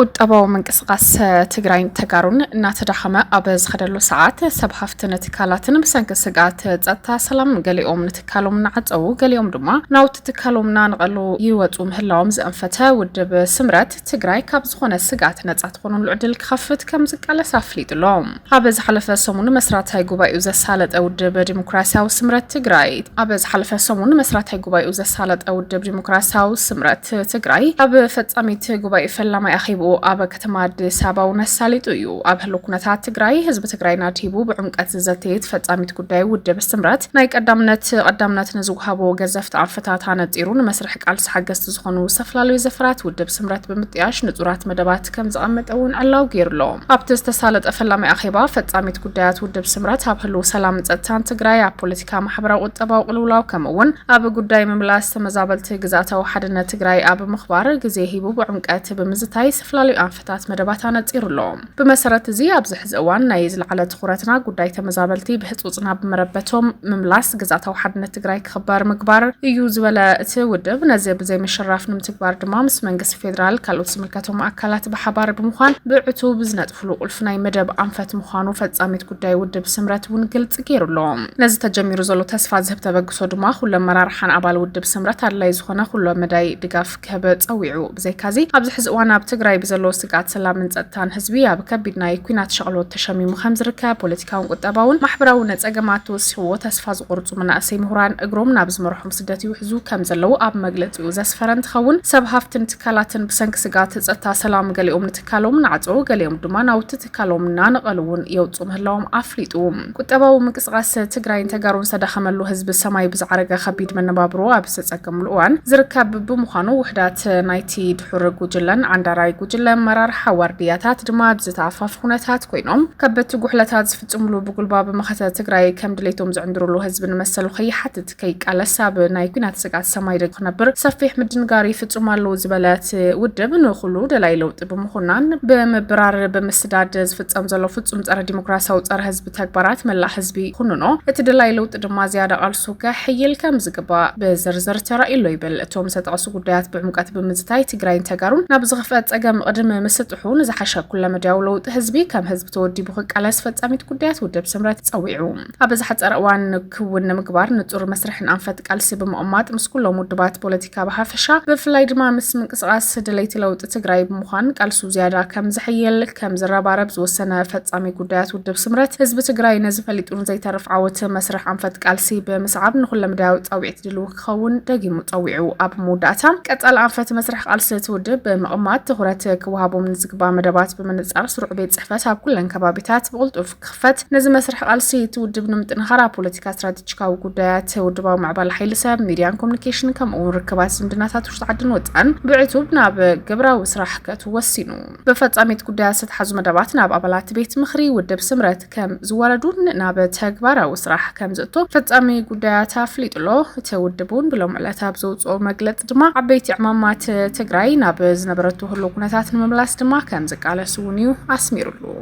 ቁጠባዊ ምንቅስቓስ ትግራይን ተጋሩን እናተዳኸመ ኣብ ዝኸደሉ ሰዓት ሰብ ሃፍትን ትካላትን ብሰንኪ ስግኣት ፀጥታ ሰላም ገሊኦም ንትካሎም እናዓፀዉ ገሊኦም ድማ ናውቲ ትካሎም እናነቐሉ ይወፁ ምህላዎም ዘእንፈተ ውድብ ስምረት ትግራይ ካብ ዝኾነ ስግኣት ነፃ ትኾኑሉ ዕድል ክኸፍት ከም ዝቃለስ ኣፍሊጡ ኣሎ። ኣብ ዝሓለፈ ሰሙን መስራታይ ጉባኤኡ ዘሳለጠ ውድብ ዲሞክራሲያዊ ስምረት ትግራይ ኣብ ዝሓለፈ ሰሙን መስራታይ ጉባኤኡ ዘሳለጠ ውድብ ዲሞክራሲያዊ ስምረት ትግራይ ኣብ ፈጻሚት ጉባኤ ፈላማይ ኣኼብኡ ኣብ ከተማ ኣዲስ ኣበባ እውን ኣሳሊጡ እዩ። ኣብ ህሉ ኩነታት ትግራይ ህዝቢ ትግራይ ናድሂቡ ብዕምቀት ዝዘተየት ፈጻሚት ጉዳይ ውድብ ስምረት ናይ ቀዳምነት ቀዳምነት ንዝውሃቦ ገዘፍቲ ኣንፈታት ኣነጺሩ ንመስርሕ ቃልሲ ሓገዝቲ ዝኾኑ ዝተፈላለዩ ዘፈራት ውድብ ስምረት ብምጥያሽ ንጹራት መደባት ከም ዝቐመጠ እውን ዕላዊ ገይሩ ኣሎ። ኣብቲ ዝተሳለጠ ፈላማይ ኣኼባ፣ ፈጻሚት ጉዳያት ውድብ ስምረት ኣብ ህልው ሰላምን ጸጥታን ትግራይ፣ ኣብ ፖለቲካ፣ ማሕበራዊ ቁጠባዊ ቅልውላው ከምኡ እውን ኣብ ጉዳይ ምምላስ ተመዛበልቲ ግዝኣታዊ ሓድነት ትግራይ ኣብ ምኽባር ግዜ ሂቡ ብዕምቀት ብምዝታይ ዝተፈላለዩ ኣንፈታት መደባት ኣነጺሩ ኣሎ። ብመሰረት እዚ ኣብዚ ሕዚ እዋን ናይ ዝለዓለ ትኹረትና ጉዳይ ተመዛበልቲ ብህጹጽ ናብ መረበቶም ምምላስ፣ ግዝኣታዊ ሓድነት ትግራይ ክኽበር ምግባር እዩ ዝበለ እቲ ውድብ፣ ነዚ ብዘይምሽራፍ ንምትግባር ድማ ምስ መንግስቲ ፌዴራል ካልኦት ዝምልከቶም ኣካላት ብሓባር ብምዃን ብዕቱብ ብዝነጥፍሉ ቁልፊ ናይ መደብ ኣንፈት ምዃኑ ፈፃሚት ጉዳይ ውድብ ስምረት እውን ግልፂ ገይሩ ኣሎ። ነዚ ተጀሚሩ ዘሎ ተስፋ ዝህብ ተበግሶ ድማ ኩሉ ኣመራርሓን ኣባል ውድብ ስምረት ኣድላይ ዝኾነ ኩሎ መዳይ ድጋፍ ክህብ ፀዊዑ። ብዘይካዚ ኣብዚ ሕዚ እዋን ኣብ ትግራይ ብዘለዎ ስግኣት ሰላምን ፀጥታን ህዝቢ ኣብ ከቢድ ናይ ኩናት ሸቕሎት ተሸሚሙ ከምዝርከብ ፖለቲካውን ቁጠባውን ማሕበራዊ ነፀገማት ተወሲኹዎ ተስፋ ዝቖርፁ መናእሰይ ምሁራን እግሮም ናብ ዝመርሖም ስደት ይውሕዙ ከምዘለዉ ኣብ መግለጺኡ ዘስፈረ እንትኸውን፣ ሰብ ሃፍትን ትካላትን ብሰንኪ ስግኣት ጸጥታ ሰላም ገሊኦም ንትካሎም እናዕጸዉ ገሊኦም ድማ ናውቲ ትካሎም እናነቐሉ እውን የውጽኡ ምህላዎም ኣፍሊጡ። ቁጠባዊ ምንቅስቓስ ትግራይን ተጋሩን ዝተዳኸመሉ፣ ህዝቢ ሰማይ ብዝዓረገ ከቢድ መነባብሮ ኣብ ዝተጸገምሉ እዋን ዝርከብ ብምዃኑ ውሕዳት ናይቲ ድሑር ጉጅለን ዓንዳራይ ጉጅለ ኣመራርሓ ዋርድያታት ድማ ኣብ ዝተኣፋፊ ኩነታት ኮይኖም ከበድቲ ጉሕለታት ዝፍጽምሉ ብጉልባብ መኸተ ትግራይ ከም ድሌቶም ዝዕንድርሉ ህዝቢ ንመሰሉ ከይሓትት ከይቃለስ ኣብ ናይ ኩናት ስግኣት ሰማይ ደጊፉ ክነብር ሰፊሕ ምድንጋር ይፍፁም ኣለዉ ዝበለ እቲ ውድብ ንኹሉ ደላይ ለውጢ ብምኹናን ብምብራር ብምስዳድ ዝፍፀም ዘሎ ፍፁም ፀረ ዲሞክራሲያዊ ፀረ ህዝቢ ተግባራት መላእ ህዝቢ ይኹንኖ እቲ ደላይ ለውጢ ድማ ዝያዳ ቃልሱ ከሕይል ከም ዝግባእ ብዝርዝር ተራእዩ ኣሎ ይብል እቶም ዝተጠቐሱ ጉዳያት ብዕምቀት ብምዝታይ ትግራይን ተጋሩን ናብ ዝኽፍአ ፀገም ቕድሚ ምስጥሑ ንዝሓሸ ኩለመዳያዊ ለውጢ ህዝቢ ከም ህዝቢ ተወዲቡ ክቃለስ ፈፃሚት ጉዳያት ውድብ ስምረት ፀዊዑ ኣብ ዝሓፀረ እዋን ክውን ንምግባር ንፁር መስርሕን ኣንፈት ቃልሲ ብምቕማጥ ምስ ኩሎም ውድባት ፖለቲካ ብሓፈሻ ብፍላይ ድማ ምስ ምንቅስቓስ ድለይቲ ለውጢ ትግራይ ብምዃን ቃልሱ ዝያዳ ከም ዘሐይል ከም ዝረባረብ ዝወሰነ ፈፃሚ ጉዳያት ውድብ ስምረት ህዝቢ ትግራይ ነዚ ፈሊጡ ንዘይተርፍ ዓወት መስርሕ ኣንፈት ቃልሲ ብምስዓብ ንኩለመዳያዊ ፃውዒት ድልው ክኸውን ደጊሙ ፀዊዑ። ኣብ መወዳእታ ቀፃሊ ኣንፈት መስርሕ ቃልሲ እቲ ውድብ ብምቕማጥ ትኹረት ክወሃቦም ንዝግባእ መደባት ብምንፃር ስሩዕ ቤት ፅሕፈት ኣብ ኩለን ከባቢታት ብቕልጡፍ ክኽፈት፣ ነዚ መስርሕ ቃልሲ እቲ ውድብ ንምጥንኻር ኣብ ፖለቲካ፣ ስትራቴጂካዊ ጉዳያት፣ ውድባዊ ምዕባለ ሓይሊ ሰብ፣ ሚድያን ኮሙኒኬሽንን ከምኡ እውን ርክባት ዝምድናታት ውሽጢ ዓድን ወፃእን ብዕቱብ ናብ ግብራዊ ስራሕ ከእቱ ወሲኑ። ብፈፃሚት ጉዳያት ዝተትሓዙ መደባት ናብ ኣባላት ቤት ምኽሪ ውድብ ስምረት ከም ዝወረዱን ናብ ተግባራዊ ስራሕ ከም ዝእቶ ፈፃሚ ጉዳያት ኣፍሊጡ ኣሎ። እቲ ውድብ እውን ብሎም ዕለት ኣብ ዘውፅኦ መግለፂ ድማ ዓበይቲ ዕማማት ትግራይ ናብ ዝነበረቶ ህልው ኩነታት ንምምላስ ድማ ከም ዝቃለስ እውን እዩ ኣስሚሩሉ።